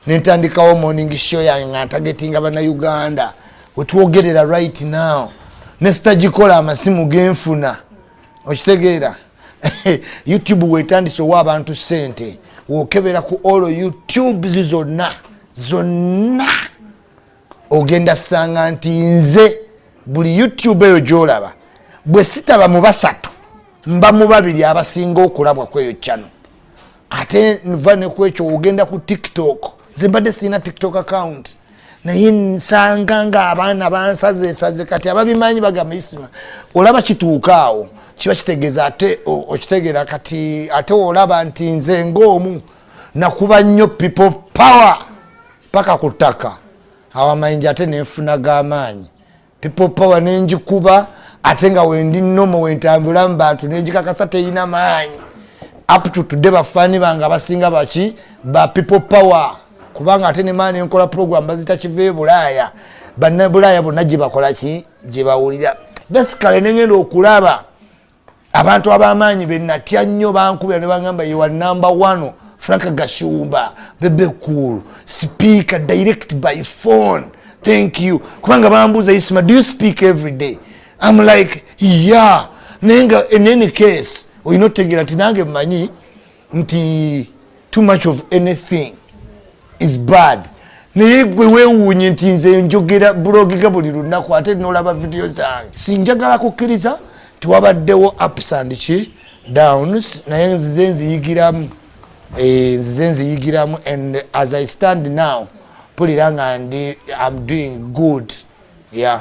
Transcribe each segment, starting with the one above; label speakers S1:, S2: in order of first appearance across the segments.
S1: nentandikawo morning show yange nga ntagetinga banauganda wetwogerera right now nesitagikola amasimu genfuna okitegeera youtube wetandise owa abantu sente wokebera ku all youtubes zonna zonna ogenda sanga nti nze buli youtube eyo gyolaba bwe sitaba mu basatu mba mu babiri abasinga okulabwa kweyo cano ate nva nekwekyo ogenda ku tiktok nze mbadde sirina tiktok account naye nsanga nga abaana bansazesaze kati ababimanyi bagamba isima olaba kituuka awo kiba kitegeeza ate okitegeera kati ate olaba nti nze ngaomu nakuba nnyo people power paka ku ttaka awo amayinja ate nenfuna gamaanyi people power nenjikuba ate nga wendi nomo wentambula mu bantu nenjikakasa teyina maanyi up to today bafaani bange abasinga baki ba people power kubanga ate nemaani enkola program bazita kiva ebulaaya bannabulaaya bonna gyebakola ki gyebawulira basicale nengenda okulaba abantu abamaanyi benatya nnyo bankubira nebagamba yewa number one frank gashumba bebe cool speaker direct by phone thank you kubanga bambuuza isma do you speak every day am like ya naye nga in any case olina otegeera nti nange manyi nti too much of anything is bad naye gwe wewuunye nti nze njogera bulogega buli lunaku ate nolaba vidiyo zange sinjagala kukkiriza tiwabaddewo ups and ki downs naye nzize nziyigiramu eh, nzize nziyigiramu and as i stand now mpulira nga ndi am doing good yeah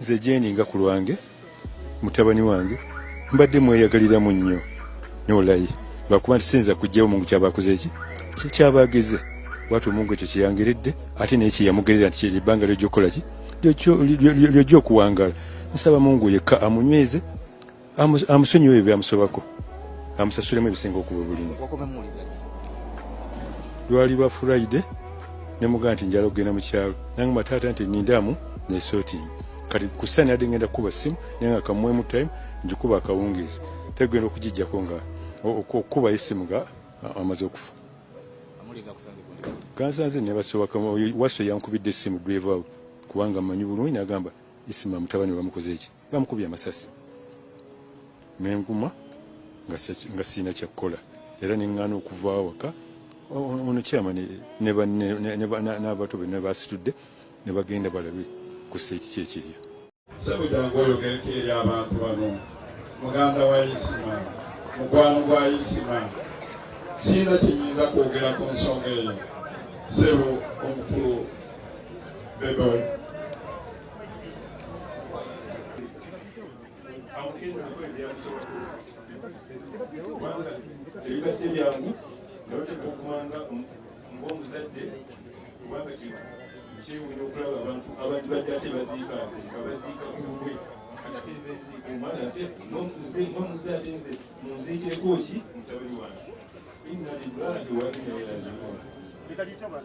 S2: nze jeeni nga ku lwange mutabani wange mbadde mweyagaliramu nnyo nolayi lwakuba nti siyinza kujjawo mungu kyaba akoze eki kyaba ageze wati omungu ekyo kyeyangeredde ate naye kyeyamugerera nti kyeri ebbanga lyojja okukola ki lyojja okuwangala nsaba mungu yekka amunyweze amusonyiwe ebyo byamusobako amusasulemu ebisinga okuba obulungi lwali lwa furayide nemugaa nti njala okugenda mu kyalo nange mataata nti nindamu nesotingi kati kusani ade ngenda kukuba simu naye nga kamwemu time njikuba akawungeezi tegenda okugijjako nga okukuba esimu nga amaze okufa gansanze nebasobaka waso yankubidde esimu drive out kubanga manyi bulungi nagamba esimu amutabani bamukoze eki bamukubye amasasi nenguma nga sirina kyakkola era neŋŋaana okuva awaka ono kyama n'abato be nebasitudde ne bagenda balabe ku seeki kyekiryo sebujangu
S3: oyogereko eri abantu bano muganda wa isima mukwano gwa isima sirina kyenyinza kwogera ku nsonga eyo sebo omukulu bebe ebibadde byangu nabatekumanga ngaomuzadde kubanga kino kyewunya okulaba abantu abantu badde ate baziika nze abaziika kuwe ate nze nziika omwana ate nomuze ate nze munziikireko ki mutabani wange inna lillahi wa inna ilaihi rajiun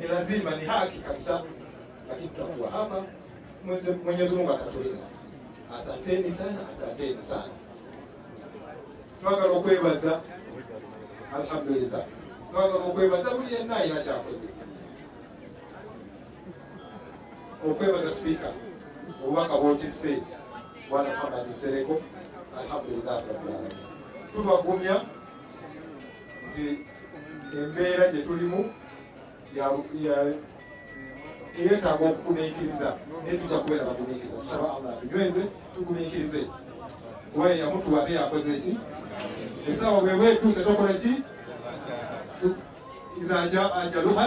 S4: ni lazima, ni haki kabisa, lakini tutakuwa hapa. Mwenyezi Mungu atatulinda. Asanteni sana, asanteni sana, twagala okwebaza alhamdulillah, twagala okwebaza buli yenna alina kyakoze okwebaza sipiika obubaka bwotisse bwana Muhammad Nsereko alhamdulillah rabbil alamin tubagumya nti embeera gye tulimu eyetaaga okugumiikiriza naye tujja kubeera bagumiikiriza tusaba allah tunyweze tugumiikirize kuba yeyamutuwa ate yakoze ki esaawa bweba etuuse tokola ki iza jaa ajaluha